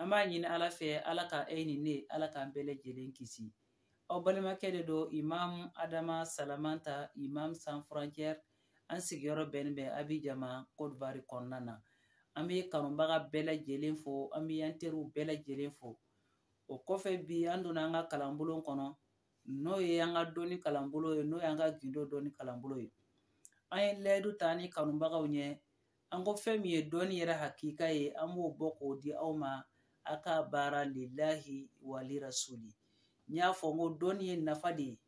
an b'a ɲini ala fɛ ala ka e ni ne ala k'an bɛɛ lajɛlen kisi aw balimakɛ de don imam adama salamanta imam sans frontière an sigiyɔrɔ bɛnnen bɛ abijan ma kɔdiwari kɔnɔna na an bɛ kanubaga bɛɛ lajɛlen fo an bɛ an teriw bɛɛ lajɛlen fo o kɔfɛ bi an donna an ka kalanbulon kɔnɔ n'o ye an ka dɔnni kalanbulon ye n'o y'an ka gindo dɔnni kalanbulon ye an ye layidu ta ni kanubagaw ɲɛ an ko fɛn min ye dɔnni yɛrɛ hakika ye an b'o bɔ k'o di aw ma a ka baara lillahi wa li rasuli n y'a fɔ n ko dɔnni ye nafa de ye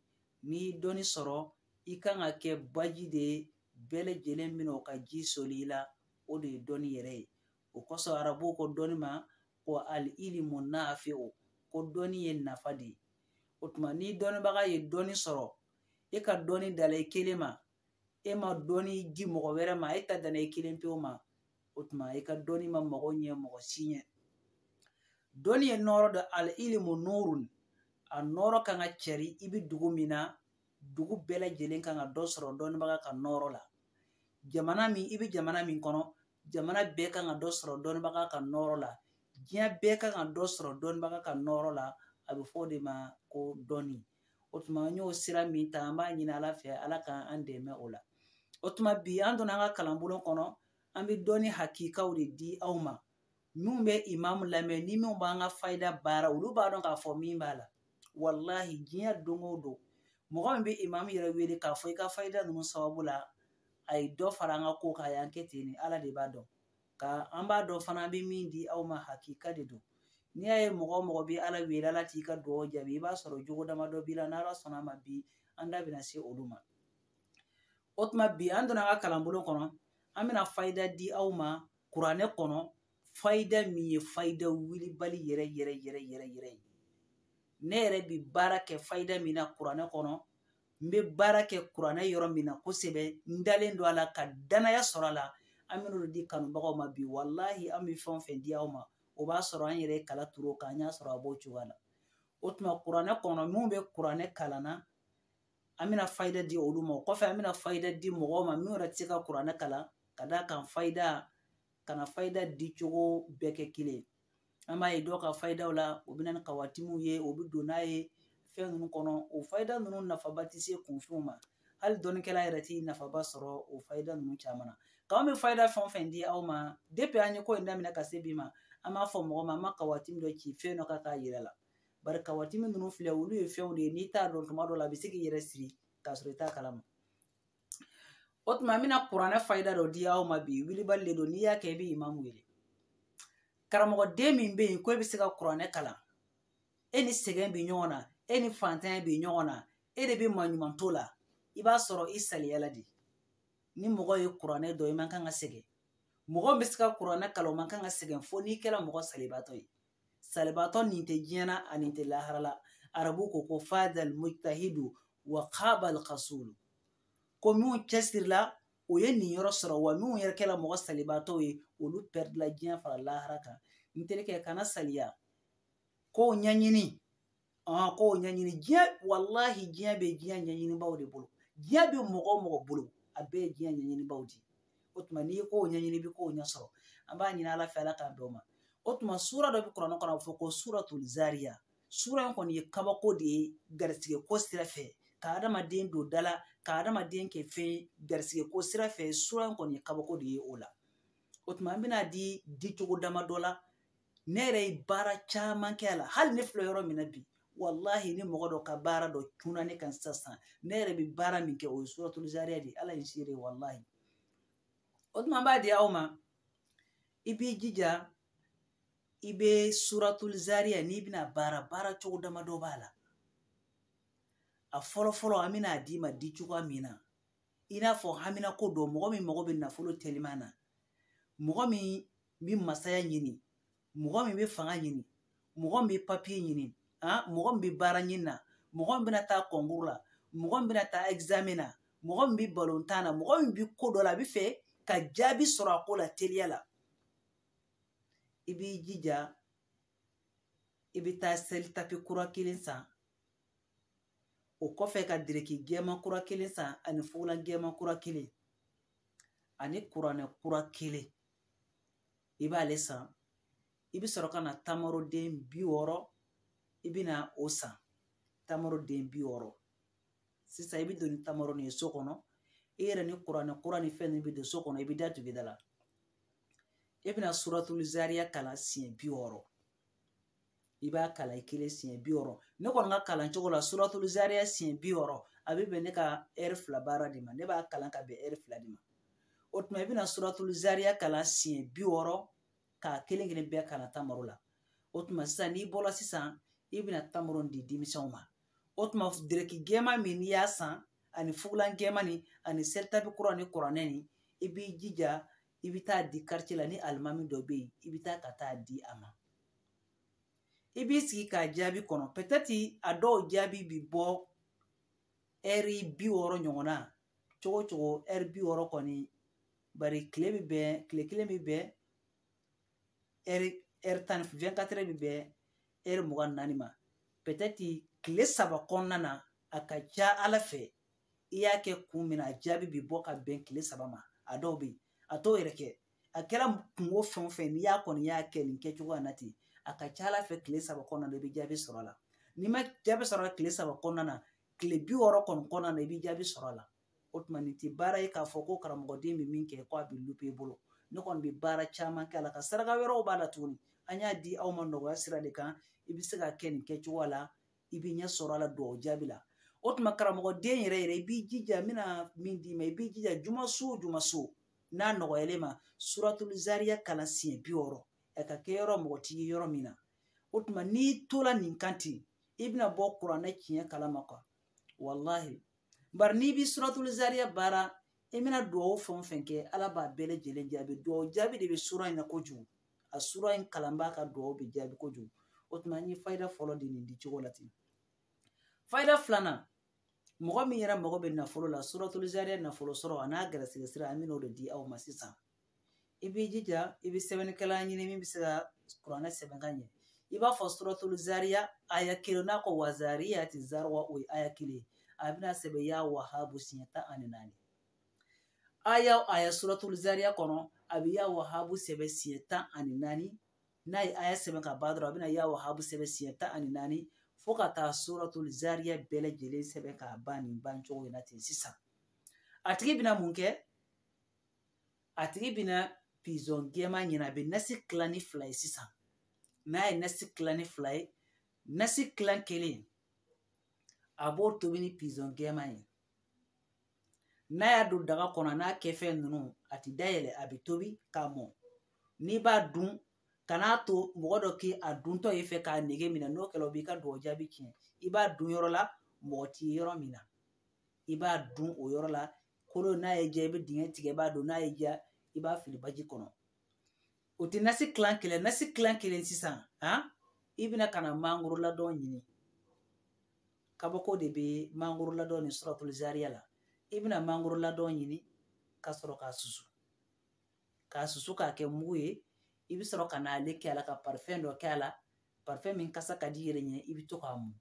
n'i ye dɔnni sɔrɔ i kan ka kɛ baji de ye bɛɛ lajɛlen bɛna o ka ji soli i la o de ye dɔnni yɛrɛ ye o kosɔn arabuw ko dɔnni ma ko al ilimu naafi o ko dɔnni ye nafa de ye o tuma ni dɔnnibaga ye dɔnni sɔrɔ e ka dɔnni dala i kelen ma e ma dɔnni di mɔgɔ wɛrɛ ma e ta danna i kelen pewu ma o tuma i ka dɔnni ma mɔgɔ ɲɛ mɔgɔ si ɲɛ dɔnni ye nɔɔrɔ de al ilimu nuurun a nɔɔrɔ kan ka cɛri i bɛ dugu min na dugu bɛɛ lajɛlen kan ka dɔ sɔrɔ dɔnnibaga ka nɔɔrɔ la jamana min i bɛ jamana min kɔnɔ jamana bɛɛ kan ka dɔ sɔrɔ dɔnnibaga ka nɔɔrɔ la diɲɛ bɛɛ kan ka dɔ sɔrɔ dɔnnibaga ka nɔɔrɔ la a bɛ fɔ o de ma ko dɔnni o tuma n y'o sira min ta an b'a ɲini ala fɛ ala ka an dɛmɛ o la o tuma bi an donna an ka kalanbulon kɔnɔ an bɛ dɔnni hakikaw de di aw ma minnu bɛ imamu lamɛn ni minnu b'an ka fayida baara olu b'a dɔn k'a fɔ min b'a la walahi diɲɛ don o don mɔgɔ min bɛ imamu yɛrɛ wele k'a fɔ i ka fayida ninnu sababu la a ye dɔ fara an ka ko kan a y'an kɛ ten de ala de b'a dɔn ka an b'a dɔn fana an bɛ min di aw ma hakika de don n'i y'a ye mɔgɔ o mɔgɔ bɛ ala wele ala t'i ka dugawu jaabi i b'a sɔrɔ jogo dama dɔ b'i la n'ala sɔnna a ma bi an da bɛna se olu ma o tuma bi an donna an ka kalanbulon kɔnɔ an bɛna fayida di aw ma kuranɛ kɔnɔ fayida min ye fayida wilibali yɛrɛ yɛrɛ yɛrɛ yɛrɛ yɛrɛ ye ne yɛrɛ bi baara kɛ fayida min na kuranɛ kɔnɔ n bɛ baara kɛ kuranɛ yɔrɔ min na kosɛbɛ n dalen don a la ka danaya sɔrɔ a la an bɛn'olu di kanubagaw ma bi walahi an bɛ fɛn o fɛn di aw ma o b'a sɔrɔ an yɛrɛ ye kala turu o kan an y'a sɔrɔ a b'o cogoya la o tuma kuranɛ kɔnɔ minnu bɛ kuranɛ kalan na an bɛna fayida di olu ma o kɔfɛ an bɛna fayida di mɔgɔw ma minnu yɛrɛ tɛ se ka kuranɛ kalan ka d'a kan fayida kana fayida di cogo bɛɛ kɛ kelen ye an b'a ye dɔw ka fayidaw la o bɛ na ni kawatimuw ye o bɛ don n'a ye fɛn ninnu kɔnɔ o fayida ninnu nafaba tɛ se kunfinw ma hali dɔnnikɛla yɛrɛ tɛ nafaba sɔrɔ o fayida ninnu caman na k'an bɛ fayida fɛn o fɛn di aw ma depuis an ye ko in daminɛ ka se bi ma an m'a fɔ mɔgɔ ma an ma kawatimu dɔ ci fɛn dɔ kan k'a yira aw la bari kawatimu ninnu filɛ olu ye fɛnw de ye n'i t'a dɔn tuma dɔ la a bɛ se k'i yɛrɛ siri k'a sɔrɔ i t'a kalama o tuma n bɛna kuranɛ fayida dɔ di aw ma bi wilibali de don n'i y'a kɛ i bɛ imamu wele karamɔgɔden min bɛ yen ko e bɛ se ka kuranɛ kalan e ni sɛgɛn bɛ ɲɔgɔn na e ni fantanya bɛ ɲɔgɔn na e de bɛ maɲuman to la i b'a sɔrɔ i saliyala de ni mɔgɔ ye kuranɛ dɔn i man kan ka sɛgɛn mɔgɔ bɛ se ka kuranɛ kalan o man kan ka sɛgɛn fo n'i kɛra mɔgɔ salibaatɔ ye salibaatɔ nin tɛ diɲɛ na a nin tɛ lahara la arabu ko ko fadal mujtahidu wa qabal qasul ko minnu cɛsirila u ye niyɔrɔ sɔrɔ wa minnu yɛrɛ kɛra mɔgɔ salibaatɔw ye olu pɛridila diɲɛ fara lahara kan n terikɛ kana saliya kow ɲɛɲini ɔn ko ɲɛɲini diɲɛ walahi diɲɛ bɛ diɲɛ ɲɛɲinibaaw de bolo diɲɛ bɛ mɔgɔ o mɔgɔ bolo a bɛɛ ye diɲɛ ɲɛɲinibaaw de ye o tuma n'i ye ko ɲɛɲini i bɛ ko ɲɛ sɔrɔ an b'a ɲini ala fɛ ala k'an dɛmɛ o tuma sura dɔ bɛ kuranɛ kɔnɔ a bɛ fɔ ko suratul zariya sura in kɔni ye kabako de ye garisigɛ ko sira fɛ ka adamaden don da la ka adamaden kɛ fɛn ye garisigɛ ko sira fɛ sura in kɔni ye kabako de ye o la o tuma an bɛna a di dicogo damadɔ la ne yɛrɛ ye baara caman kɛ a la hali ne filɛ yɔrɔ min na bi walahi ni mɔgɔ dɔ ka baara dɔ cunna ne kan sisan ne yɛrɛ bɛ baara min kɛ o ye suratul zariya de ala ye seere walahi o tuma an b'a di aw ma i b'i jija i bɛ suratul zariya n'i bɛna a baara baaracogo damadɔ b'a la a fɔlɔ fɔlɔ an bɛna a d'i ma dicogoya min na i n'a fɔ haminako don mɔgɔ min mago bɛ nafolo teliman na mɔgɔ min n bɛ masaya ɲini mɔgɔ min bɛ fanga ɲini mɔgɔ min bɛ papiye ɲini ah, mɔgɔ min bɛ baara ɲini na mɔgɔ min bɛna taa kɔnkuru la mɔgɔ min bɛna taa ɛgizamɛn na mɔgɔ min bɛ balontan na mɔgɔ min bɛ ko dɔ la a b'a fɛ ka jaabi sɔrɔ a ko la teliya la i b'i jija i bɛ taa selitapi kura kelen san o kɔfɛ ka diriki gɛɛman kura kelen san ani fugulan gɛɛman kura kelen ani kuranɛ kura kelen i b'ale san i bɛ sɔrɔ ka na tamaroden bi wɔɔrɔ i bɛna o san tamaroden bi wɔɔrɔ sisan i bɛ don ni tamaro nin ye so kɔnɔ i yɛrɛ ni kuranɛ kura ni fɛn ninnu bɛ don so kɔnɔ i bɛ da tugu da la i bɛna suratulu zariya kalan siɲɛ bi wɔɔrɔ i b'a kalan i kelen siɲɛ bi wɔɔrɔ ne kɔni ka kalan cogo la suratulu zariya siɲɛ bi wɔɔrɔ a bɛ bɛn ne ka ɛri fila baara de ma ne b'a kalan ka bɛn ɛri fila de ma o tuma i bɛna suratulu zariya kalan siɲɛ bi wɔɔrɔ k'a kelen kelen bɛɛ kalan tamaro la o tuma sisan n'i bɔra sisan i bɛna tamaro di denmisɛnw ma o tuma dereki gɛɛman min i y'a san ani fugulan gɛɛman nin ani selitapi kura ni kuranɛ nin i b'i jija i bɛ taa a di karitiye la ni alimami dɔ bɛ yen i bɛ taa ka taa di a ma i b'i sigi k'a jaabi kɔnɔ pɛtɛti a dɔw jaabi bi bɔ ɛri bi wɔɔrɔ ɲɔgɔnna cogo cogo ɛri bi wɔɔrɔ kɔni bari kile bɛ bɛn kile kelen bɛ bɛn ɛri ɛri tan vingt-quatre heures bɛ bɛn ɛri mugan naani ma pɛtɛti kile saba kɔnɔna na a ka ca ala fɛ i y'a kɛ kun min na a jaabi bi bɔ ka bɛn kile saba ma a dɔw bɛ yen a t'o yɛrɛ kɛ a kɛra kunko fɛn o fɛn n'i y'a kɔni y'a kɛ nin kɛcogoya na ten a ka ca ala fɛ tile saba kɔnɔna na i bɛ jaabi sɔrɔ a la n'i ma jaabi sɔrɔ a la tile saba kɔnɔna na tile bi wɔɔrɔ kɔni kɔnɔna na i bɛ jaabi sɔrɔ a la o tuma nin tɛ baara ye k'a fɔ ko karamɔgɔden bɛ min kɛ ko a bɛ lupe i bolo ne kɔni bɛ baara caman kɛ a la ka saraka wɛrɛw b'a la tuguni an y'a di aw ma nɔgɔya sira de kan i bɛ se k'a kɛ nin kɛcogoya la i bɛ ɲɛ sɔrɔ a la dugawu jaabi la o tuma karamɔgɔden yɛrɛ yɛrɛ i b'i jija n bɛna min d'i ma i b'i jija juma so o juma so n'a nɔgɔyalen ma suratulu zariya kalan siɲɛ bi wɔɔrɔ a ka kɛ yɔrɔ mɔgɔ t'i ye yɔrɔ min na o tuma n'i tola nin kan ten i bɛna bɔ kuranɛ tiɲɛ kalama kuwa walahi bari n'i bi suratulu zariya baara i bɛna dugawu fɛn o fɛn kɛ ala b'a bɛɛ lajɛlen jaabi dugawu jaabi de bɛ sura in na kojugu a sura in kalanbaa ka dugawu bɛ jaabi kojugu o tuma an ye fayida fɔlɔ di nin dicogo la ten fayida filanan mɔgɔ min yɛrɛ mago bɛ nafolo la suratul zariya nafolo sɔrɔ an'a garisɛgɛ sira an bɛn'o de di aw ma sisan i b'i jija i bɛ sɛbɛnnikɛla ɲini min bɛ se ka kuranɛ sɛbɛn ka ɲɛ i b'a fɔ suratul zariya aya kelen n'a ko wazariyati zariwa o ye aya kelen a bɛna sɛbɛn ya wahabu siɲɛ tan ani naani aya o aya suratul zariya kɔnɔ a bɛ ya wahabu sɛbɛn siɲɛ tan ani naani n'a ye aya sɛbɛn ka ban dɔrɔn a bɛna ya wahabu sɛbɛn siɲɛ tan ani naani fo ka taa suratul zariya bɛɛ lajɛlen sɛbɛn k'a ban nin ban cogo in na ten sisan a tigi bɛna mun kɛ a tigi bɛna pizɔn gɛɛma ɲini a bɛ nasi tila ni fila ye sisan n'a ye nasi tila ni fila ye nasi tilan kelen a b'o tobi ni pizɔn gɛɛma ye n'a y'a don daga kɔnɔ n'a kɛfɛn ninnu a ti dayɛlɛ a bɛ tobi k'a mɔ n'i b'a dun kan'a to mɔgɔ dɔ k'a duntɔ ye fɛ k'a nege minɛ n'o kɛra o b'i ka dugawu jaabi tiɲɛ i b'a dun yɔrɔ la mɔgɔ t'i ye yɔrɔ min na i b'a dun o yɔrɔ la kolo n'a y'i diya i bɛ dingɛ tigɛ i b'a don n'a y'i diya i b'a fili baji kɔnɔ o tɛ nasi kilan kelen nasi kilan kelen sisan han i bɛna ka na mangoro ladɔn ɲini kabako de bɛ mangoro ladɔn ni suratul zariya la i bɛna mangoro ladɔn ɲini ka sɔrɔ k'a susu k'a susu k'a kɛ mugu ye i bɛ sɔrɔ ka n'ale kɛ a la ka parifɛn dɔ kɛ a la parifɛn min kasa ka d'i yɛrɛ ɲɛ i bɛ to k'a mu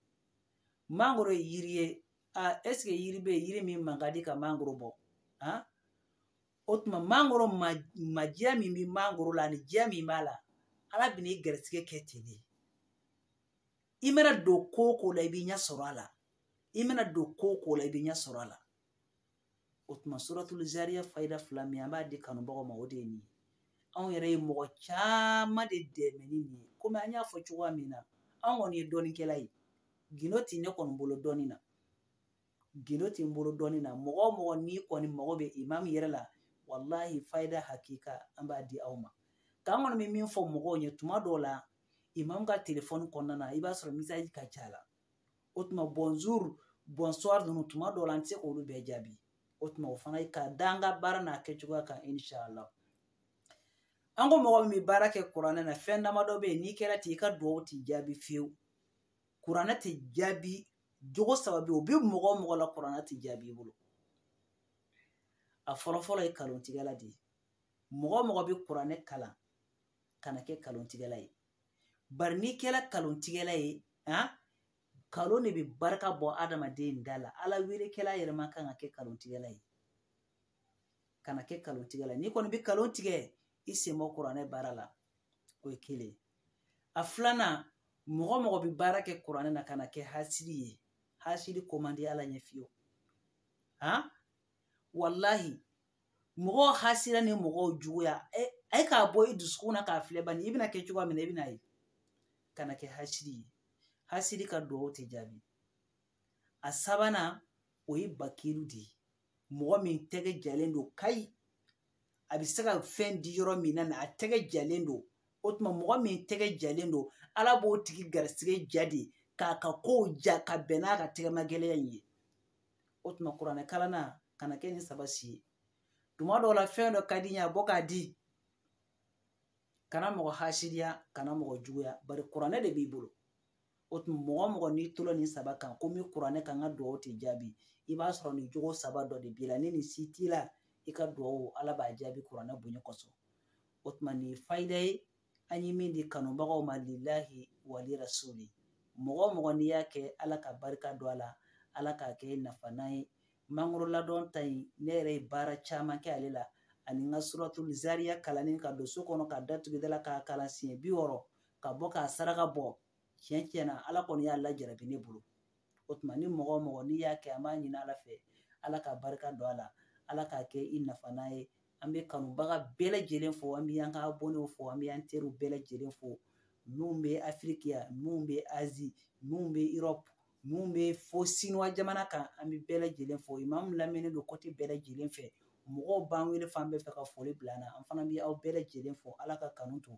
mangoro ye yiri ye a ɛseke yiri bɛ yiri min man ka di ka mangoro bɔ han o tuma mangoro madiya min bɛ mangoro la ani diya min b'a la ala bɛ n'i gɛrɛsɛgɛ kɛ ten de i mana don ko o ko la i bɛ ɲɛ sɔrɔ a la i mana don ko o ko la i bɛ ɲɛ sɔrɔ a la o tuma suratul zariya fayida fila min an b'a di kanubagaw ma o de ye nin ye anw yɛrɛ ye mɔgɔ caman de dɛmɛ ni nin ye komi an y'a fɔ cogoya min na anw kɔni ye dɔnnikɛla ye gindo tɛ ne kɔni bolo dɔnni na gindo tɛ n bolo dɔnni na mɔgɔ o mɔgɔ n'i kɔni mago bɛ imam yɛrɛ la walahi fayida hakika an b'a di aw ma k'an kɔni bɛ min fɔ mɔgɔw ye tuma dɔw la imam ka telefɔni kɔnɔna na i b'a sɔrɔ message ka ca la o tuma bonjour bonsoir ninnu tuma dɔw la an tɛ se k'olu bɛɛ jaabi o tuma o fana ka da an ka baara n'a kɛcogoya kan inshallah an ko mɔgɔ min bɛ baara kɛ kuranɛ na fɛn damadɔ bɛ yen n'i kɛra ten i ka dugawu tɛ jaabi fiyewu kuranɛ tɛ jaabi jogo saba bɛ yen o bɛ mɔgɔ o mɔgɔ la kuranɛ tɛ jaabi i bolo a fɔlɔfɔlɔ ye kalontigɛla de ye mɔgɔ o mɔgɔ bɛ kuranɛ kalan kana kɛ kalontigɛla ye bari n'i kɛra kalontigɛla ye han kalon de bɛ barika bɔ adamaden da la ala weelekɛla yɛrɛ man kan ka kɛ kalontigɛla ye kana kɛ kalontigɛla ye n'i kɔni bɛ kalon tigɛ i sen bɔ kuranɛ baara la o ye kelen ye a filanan mɔgɔ mɔgɔ bɛ baara kɛ kuranɛ na kana kɛ hasidi ye hasidi ko man di ala ɲɛ fiyewu han walahi mɔgɔw hasiriya ni mɔgɔw juguya e, a ye k'a bɔ i dusukun na k'a filɛ bani i bɛna kɛ cogoya min na i bɛn'a ye kana kɛ hasidi ye hasidi ka duwawu tɛ jaabi a sabanan o ye bakilu de ye mɔgɔ min tɛgɛ jalen don kayi a bɛ se ka fɛn di yɔrɔ min na a tɛgɛ jalen don o tuma mɔgɔ min tɛgɛ jalen don ala b'o tigi garisigɛ ja de k'a ka kow ja ka bɛn n'a ka tɛgɛma gɛlɛya in ye o tuma kuranɛ kalanna kana kɛ nin saba si ye tuma dɔw la fɛn dɔ ka di i ye a bɔ k'a di kana mɔgɔ hasiriya kana mɔgɔ juguya bari kuranɛ de b'i bolo o tuma mɔgɔ mɔgɔ n'i tola nin saba kan ko n bɛ kuranɛ kan n ka dugawu tɛ jaabi i b'a sɔrɔ nin jogo saba dɔ de b'i la ni nin si t'i la i ka dugawu ala b'a jaabi kuranɛ bonya kosɔn o tuma nin ye fayida ye an ye min di kanubagaw ma lilahi wali rasuli mɔgɔ mɔgɔ n'i y'a kɛ ala ka barika don a la ala k'a kɛ nafalan ye mangoro ladɔn ta in ne yɛrɛ ye baara caman kɛ ale la ani n ka suratul zariya kalanni ka don so kɔnɔ ka da tugu da la k'a kalan siɲɛ bi wɔɔrɔ ka bɔ k'a saraka bɔ tiɲɛ tiɲɛ na ala kɔni y'a lajarabi ne bolo o tuma ni mɔgɔ mɔgɔ n'i y'a kɛ an b'a ɲini ala fɛ ala ka barika don a la ala k'a kɛ i nafanan ye an bɛ kanubaga bɛɛ lajɛlen fo an bɛ an ka abɔnew fo an bɛ an teriw bɛɛ lajɛlen fo minnu bɛ afiriki yan minnu bɛ azi minnu bɛ erɔpu minnu bɛ fo sinuwa jamana kan an bɛ bɛɛ lajɛlen fo imamu lamɛnnen don kote bɛɛ lajɛlen fɛ mɔgɔw b'an wele fan bɛɛ fɛ ka foli bila an na an fana bɛ aw bɛɛ lajɛlen fo ala ka kanu to